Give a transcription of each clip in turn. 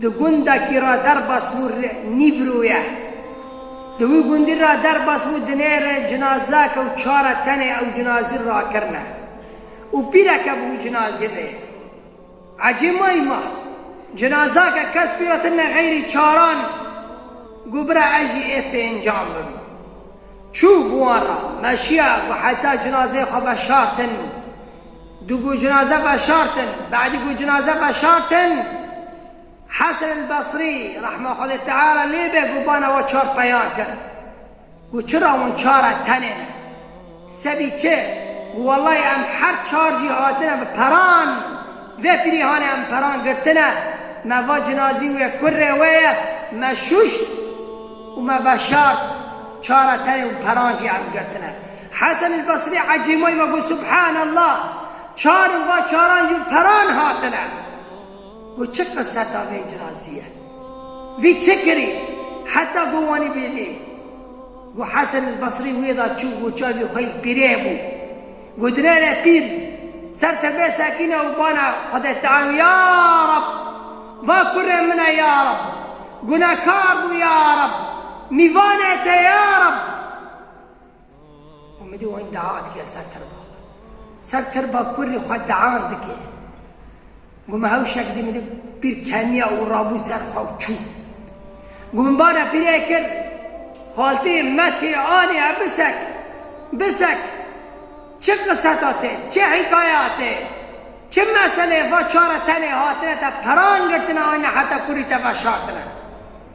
Di gunda kî ra derbas bû re Nîvru ye. Di wî gundî ra derbas bû dinê re cinazake û çare tenê ew cinazî rakirine û pîreke bû cinazî rê. Ecê may ma, cinazake kes pîratirine xeyrî çaran gu bira ez jî ê pêncan bim. Çû bi wan ra, meşiya gu heta cinazeyê xwe veşartin Du ku cinaze veşartin, Bedî ku cinaze veşartin, Hesen el Besrî rehma Xwedê Teala lê be gobana we çar peyan kir. Got çira hûn çar e tenê ne. Sebî çi? Got wellahî em her çar jî hatine bi peran, vê pirîhanê em peran girtine, me va cinazî wê kurrê wê ye, me şûşt û me veşart, çar e tenê û peran jî em girtine. Hesen el Basrî ecêmay ve got, Subhan Allah! Çar in va çaran jî peran hatine. Got, çi qiseta vê cinasî ye? Vî çi kirî? Heta got wanî bêlê. Got, Hesen el Basrî wê da çû got çavê xwe yî pîrê bû. Got, nere pîr, ser te bê sekîne û bana Xwedê Teal ya Reb! Va kurê min e ya Reb! Gunekar bû ya Reb! Mîvanê te ya Reb! Umîdî wan dea dike ser tirba xwe. Ser tirba kurrî xwe dean dike. Got min hewşek dî min di pîr keniya û rabû ser xwe û çû. Got min bana pîrê kir, xaltê me tê anê e bisek, bisek. Çi qiseta te, çi hîkaya te, çi meselê va çare tenê hatine te peran girtine anîne heta kurrî te veşartine.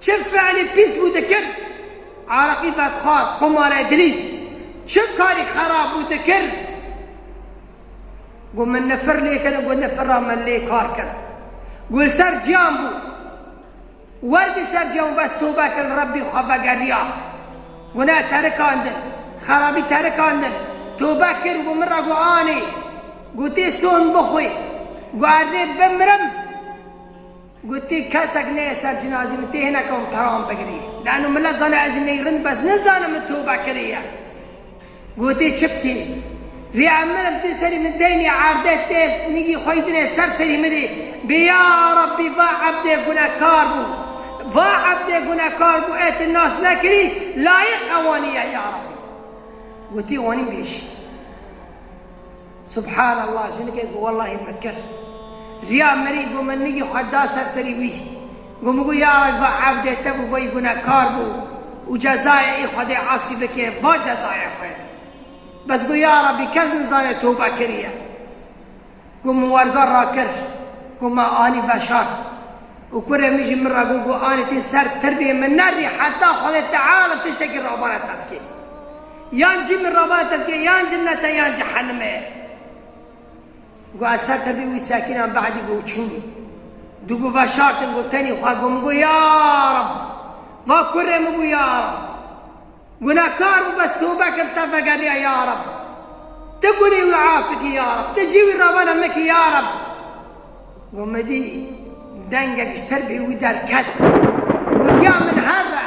Çi fiilî pîs bû dikir, areqî vedxwar, qumare dilîz, çi karî xerab bû dikir, got min nifir lê kir, got nifir ra min lê kar kir. Got li ser ciyan bû, wer di ser ciyan bû bes tobe kir li Rebbî xwe vegeriya, guneh terikandin, xerabî terikandin, tobe kir, got min ra got anî, gotê son bixwî, got erdê bimirim. Gotiye kesek neyê ser cinazê min tê hineke min peran bigirî. Lano milet zane ez jî ney rind bes nizanim min tobe kiriye. Gotiye çi bikê? Rê em mirim tê serî min deynî erde tê nigî xwe yî dinê ser serî min rê bê ya Rabbî va ebdê gunekar bû va ebdê gunekar bû ê ti nas nekirî layiq ewanî ye ya Rabbî. Gotiye wanî bêjî. Subhan Allah jinikê got wellahî me kir riya mirî got min nigî xwe da ser serî wî got min got ya reb va evdê te bû veyî gunekar bû û cezayê ê xwedê asî bike va cezaya xwe ye bes got ya rebî kes nizane tobe kiriye got min werga rakir got me anî veşart û kurê min jî min re got got anî tê ser tirbê min nerî heta xwedê teala tiştekî rabare te bike. Yan cî min ravate tu yê yan cinete yan cehenime. Go ez ser te bî wî sekînan be'dî go çûm. Du go veşartin go tenî xwe go min go ya Reb va kurê min bû ya Reb gunehkar bû bes tewbe kir li te vegeriya ya Reb tu gunî wî afi kî ya Reb tu cî wî ravana min kî ya Reb go min dî dengek ji ter bî wî derket gotiya min her re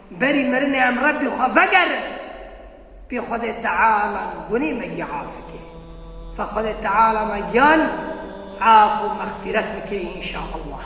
Berî mirinê em Rebbî xwe vegerin pê Xwedê Teala û gunê me gî afike. Fa Xwedê Teala me giyan af û mexfîret bike înşaallah.